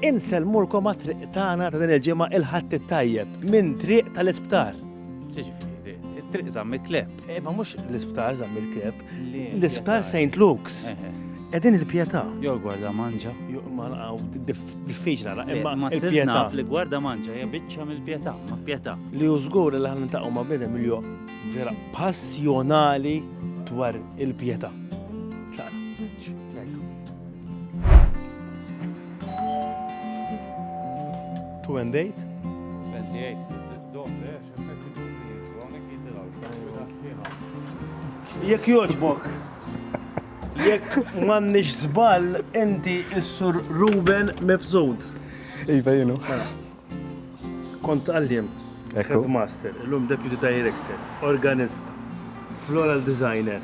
Insellmulkom għat-triq tagħna ta' din il-ġimgħa il-Ħadd it-Tajjeb minn triq tal-isptar. Ġifieri, it-triq żamm il-kleb. Eh, ma mhux l-isptar żamm il-kleb. L-isptar St. Luke's. Eh, eh. Edin il-pieta. Jo, gwarda manġa. Jo, ma naqaw, diffiċla, la, imma. Ma s-pieta. Li gwarda manġa, ja bicċa mill-pieta, ma pieta. Li użgur li ħan taqqa ma bidem li jo vera passjonali dwar il-pieta. Two and eight. Jekk joġbok, jekk m'għandniex żball inti s-sur Ruben Mifzud. Iva jienu. Kont għalliem, headmaster, illum deputy director, organista, floral designer.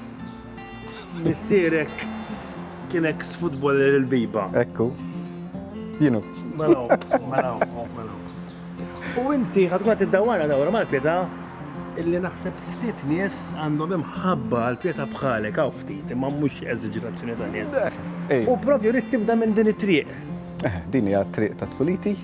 Missierek kien eks futboller il-Biba. Ekku. Jienu. Mela hu, mela hu, mela hu. U inti ħad tkun qed tiddawwarha dawra mal-pietà illi naħseb ftit nies għandhom imħabba għall-pietà bħalek hawn ftit imma mhux eżaġerazzjoni ta' nies. U propju rrid tibda minn din it-triq. Eh, din hija triq ta' tfuliti.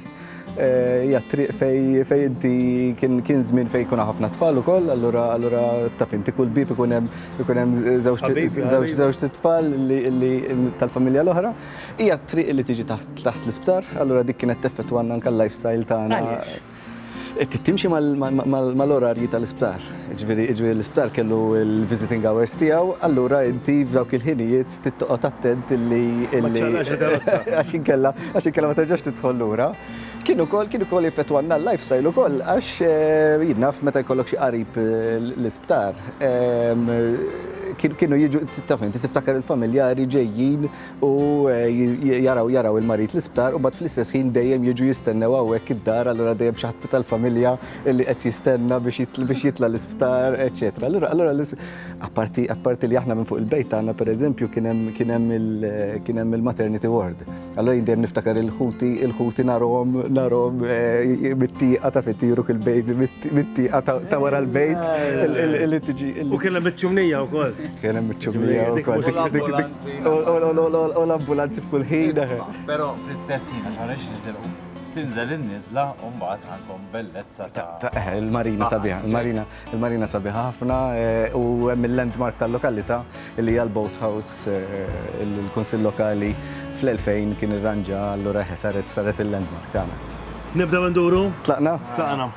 Eh, hija triq fej fej inti kien kien żmien fej kuna ħafna tfal ukoll, allura allura taf inti kull bib ikun hemm ikun hemm żewġ tfal li tal-familja l-oħra. Hija triq li tiġi taħt l-isptar, allura dik kienet teffettwanna anke l-lifestyle tagħna. Trid timxi mal-orarji tal-isptar. Jiġifieri l-isptar kellu l-visiting hours tiegħu, allura inti f'dawk il-ħinijiet trid toqgħod attent illi. Ma ċċaqlax il-karozza. Għax inkella għax inkella ma terġax tidħol lura. Kien ukoll kien ukoll jeffettwanna l-lifestyle ukoll għax jien naf meta jkollok xi qarib l-isptar kienu jiġu taf inti tiftakar il-familjari ġejjin. u jaraw jaraw il-marid l-isptar u mbagħad fl-istess ħin dejjem jiġu jistennew hawnhekk id-dar, allura dejjem xi ħadd tal-familja li qed jistenna biex jitla' l-isptar, eċċetera. Allura allura apparti apparti li aħna minn fuq il-bejt tagħna pereżempju kien hemm kien hemm il kien hemm il-maternity ward. Allura jien dejjem niftakar il-ħuti il-ħuti narhom narhom mit-tieqa taf itiru il-baby mit-tieqa ta' wara l-bejt li tiġi. U kien hemm iċ-ċumnija wkoll. Kien hemm iċ-ċumnija wkoll. U l-ambulanzi f'kull ħin. Pero fl-istess ħin, għax għalix nitilqu, tinżel in-nizla u mbagħad għandkom bellezza ta' eh, il-marina sabiħa, il-marina, il-marina sabiħa ħafna eh, u hemm il-landmark tal-lokalità li hija l-boat house eh, il-kunsill lokali fl-2000 kien irranġa allura saret saret il-landmark tagħna. Nibda nduru? Tlaqna? Tlaqna.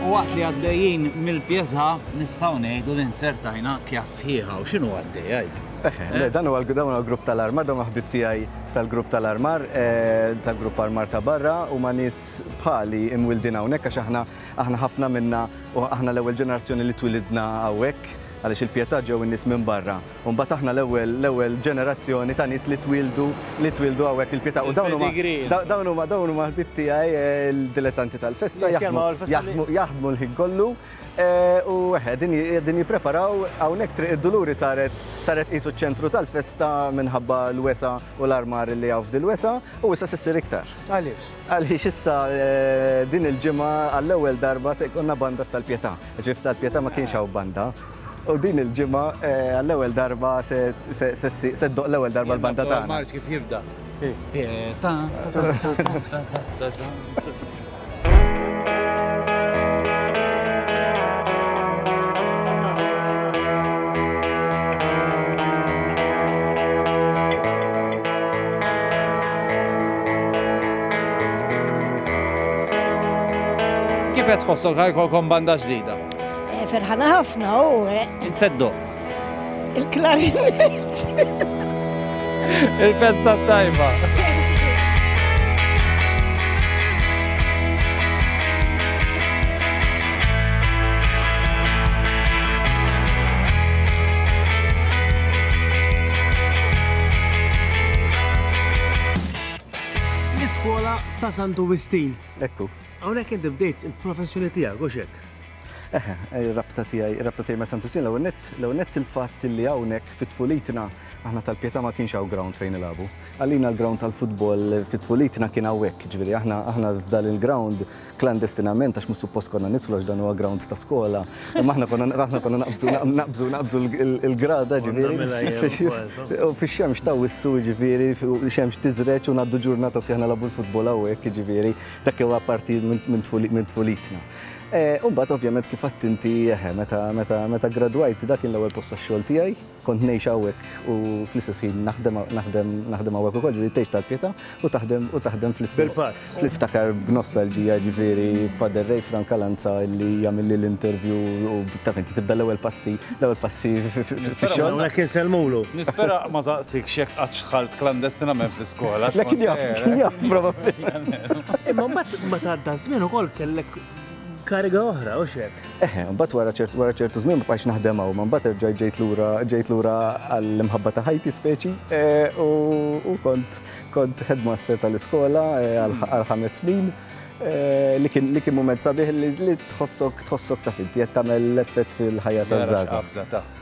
U waqt li għaddejjin mill-pietà nistgħu ngħidu li nzertajna kja sħiħa u x'inhu għaddej għid. Eh, eh? Dan huwa l-grupp tal-armar, dan ħbib tiegħi tal-grupp tal-armar, eh, tal-grupp armar ta' barra u ma' nies bħali imwildin hawnhekk għax aħna aħna ħafna minna u aħna l-ewwel ġenerazzjoni li twilidna hawnhekk għaliex il-pietà ġew in-nies minn barra U mbagħad aħna l-ewwel l-ewwel ġenerazzjoni ta' nies li twieldu li twieldu hawnhekk il-Pietà. U dawn huma dawn huma dawn huma ħbieb tiegħi l-dilettanti tal-festa jaħdmu jaħdmu l-ħin kollu u eħe din qegħdin jippreparaw hawnhekk Triq id-Duluri saret saret qisu ċ-ċentru tal-festa minħabba l-wesgħa u l-armar li hawn f'dil-wesgħa u issa se ssir iktar. Għaliex? Għaliex issa din il-ġimgħa għall-ewwel darba se jkollna banda f'Tal-Pietà. Ġifieri f'Tal-Pietà ma kienx hawn banda. U din il-ġimgħa għall-ewwel darba se ddoqq l-ewwel darba l-banda tagħna. Mars kif jibda? Kif qed tħossok ħajkolkom banda ġdida? Eh, ferħana ħafna u. Eh. Inseddu. Il-klarinet. Il-festa tajba. ta' Santu Wistin. Ekku. Hawnhekk inti bdejt il-professjoni tiegħek, hux hekk? Eħe, ir-rabta tiegħi, ir-rabta tiegħi ma' Santu Ġnien l-ewwel nett, l-ewwel nett il-fatt li hawnhekk fi tfulitna aħna tal-Pietà ma kienx hawn ground fejn nilagħbu. Għalina l-ground tal-futbol fi tfulitna kien hawnhekk, jiġifieri aħna aħna f'dan il-ground klandestinament għax mhux suppost konna nidħlu għax dan huwa ground ta' skola, imma aħna konna aħna konna naqbżu naqbżu naqbżu l-grada jiġifieri u fix-xemx ta' wissu jiġifieri xemx tiżreġ u ngħaddu ġurnata sħiħa nilagħbu l-futbol hawnhekk jiġifieri Dak huwa parti minn tfulitna. Eh, Umbat ovvjament kif għadt inti eħe, meta gradwajt dak kien l-ewwel post tax-xogħol tiegħi, kont ngħix hawnhekk u fl-istess ħin naħdem naħdem hawnhekk ukoll, ġifieri tgħix tal-pieta u taħdem u taħdem fl-istess. Bil-pass. Niftakar b'nostalġija ġifieri Father Ray Frank Alanza li jagħmilli l-interview u taf inti tibda l-ewwel passi, l-ewwel passi fix-xogħol. Hawnhekk insellmulu. Nispera ma saqsikx jekk qatt xħalt klandestinament fl Le kien jaf, kien jaf, probabli. Imma mbagħad ma tgħadda żmien ukoll kellek kariga oħra, u xek. Eħe, mbagħad wara ċertu wara ċertu żmien ma bqajx naħdem hawn, ma mbagħad erġajt ġejt lura ġejt lura għall-imħabba ta' ħajti speċi e, u kont kont headmaster tal-iskola e, għal ħames snin. E, li kien li kien mument sabiħ li tħossok tħossok ta' finti qed tagħmel l-effett fil-ħajja taż-żgħażagħ.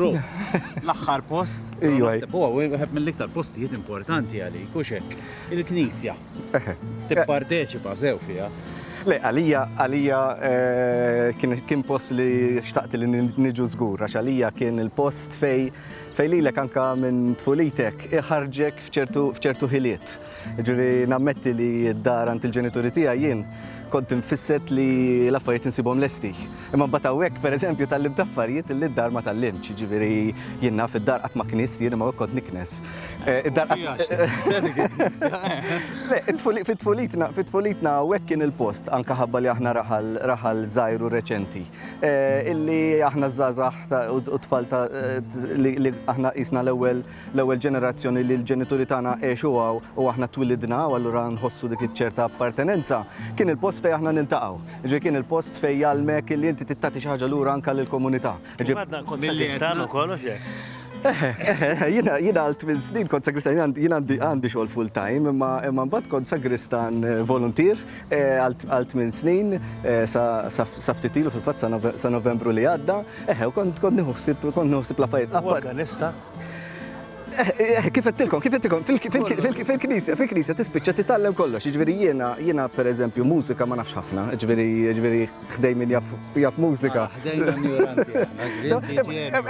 Ru, l-axħar post, naħseb huwa wieħed mill-iktar postijiet importanti għalik, u xek, il-Knisja. Tipparteċipa sew fiha. Le, għalija, għalija eh, kien post li xtaqt li niġu żgur, għax għalija kien il-post fej fej lilek anka minn tfulitek iħarġek fċertu ħiliet. Jiġifieri nammetti li d-dar għand il-ġenituri tiegħi jien kont imfisset li l-affarijiet insibhom lesti. Imma mbagħad hawnhekk, pereżempju, tgħallimt affarijiet li d-dar ma tgħallimtx. Jiġifieri jien naf id-dar qatt ma knist jien imma hawnhekk kont niknes. Id-dar Fit-tfulitna, fit-tfulitna hawnhekk kien il-post, anke ħabba li aħna raħal, raħal żgħir u reċenti, illi aħna ż-żgħażagħ u t-tfal ta' li aħna qisna l-ewwel, l-ewwel ġenerazzjoni li l-ġenituri tagħna għexu hawn u aħna twilidna hawn allura nħossu dik iċ-ċerta appartenenza, kien il-post fejn aħna niltaqgħu. Jiġifieri kien il-post fejn jgħallmek li inti titati xi ħaġa lura anke lill-komunità. Jiġifieri Għadna kont sagristan ukoll u x'hekk? Eħe, eħe, eħe, jiena jiena għal tmien snin kont sagristan, jien għandi għandi xogħol full time, imma imma mbagħad kont sagristan eh, voluntier eh, għal tmien snin eh, sa ftit ilu fil-fatt sa Novembru li għadda, eħe, u kont kont nieħu ħsieb kont nieħu ħsieb l-affarijiet. Organista. Kif għettilkom, kif għettilkom, fil-knisja, fil-knisja tispiċċa titgħallem kollox, ġveri jiena, jiena per eżempju, mużika ma nafx ħafna, ġveri, ġveri, ħdej minn jaf mużika.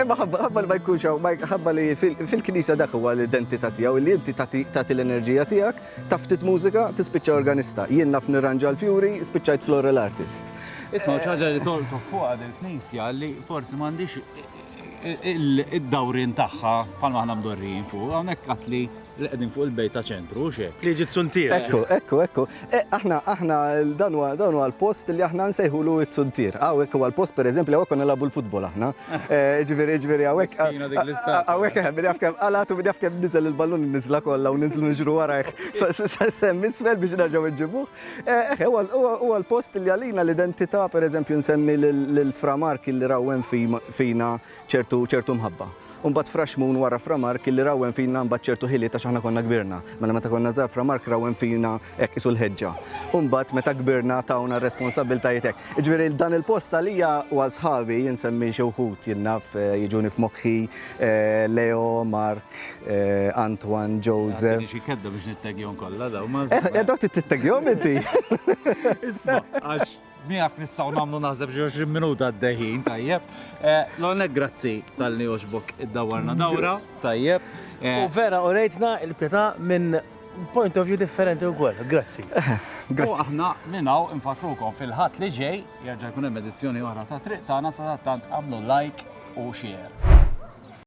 Imma ħabba li ma jkunx, ħabba li fil-knisja dak huwa l-identità tiegħu, li inti tagħti l-enerġija tiegħek, taftit mużika, tispiċċa organista. Jien naf nirranġa l-fjuri, spiċċajt floral artist. Isma' ċaġa li toltok fuq għad il-knisja li forsi m'għandix id-dawrien tagħha bħalma aħna mdorrijin fuq, hawnhekk għad li qegħdin fuq il-bejt ta' ċentru, hux hekk? Li ġiet suntiera. Ekku, ekku, ekku. E, aħna, aħna, dan huwa dan huwa l-post li aħna nsejħulu t-suntier. Hawnhekk huwa l-post pereżempju hawnhekk konna nilagħbu l-futbol aħna. E, ġifieri, ġifieri hawnhekk. Hawnhekk hemm jaf kemm qalatu min jaf kemm niżel il-ballun niżla kollha u niżlu niġru warajh. Sa semmi isfel biex nerġgħu nġibuh. Eħe, huwa l-post li għalina l-identità, per eżempju nsemmi lil Fra Mark illi rawwem fina ċertu mħabba. U mbagħad Fra Xmun wara Fra Mark illi rawwem fina mbagħad ċertu ħiliet għax aħna konna kbirna. Mela meta konna żgħar Fra Mark rawwem fina hekk qisu l-ħeġġa. U mbagħad meta kbirna tawna r-responsabbiltajiet hekk. Jiġifieri dan il-post għalija u għal sħabi, insemmi xi wħud jien naf jiġuni f'moħħi Leo, Mark, Antoine Joseph. Għadini xi kedda biex nittegjon kollha daw ma' żewġ. Edha tittegjon inti. Isma, għax miegħek nistgħu nagħmlu naħseb xi 20 minuta għaddejħin, tajjeb. L-għonek grazzi tal-li oġbok id-dawwarna dawra, tajjeb. U vera, u rejtna il-pjeta minn point of view differenti u għol, grazzi. Grazzi. U aħna minnaw infakrukom fil-ħat li ġej, jarġa jkun hemm edizzjoni oħra ta' triq tagħna sa tant għamlu like u share.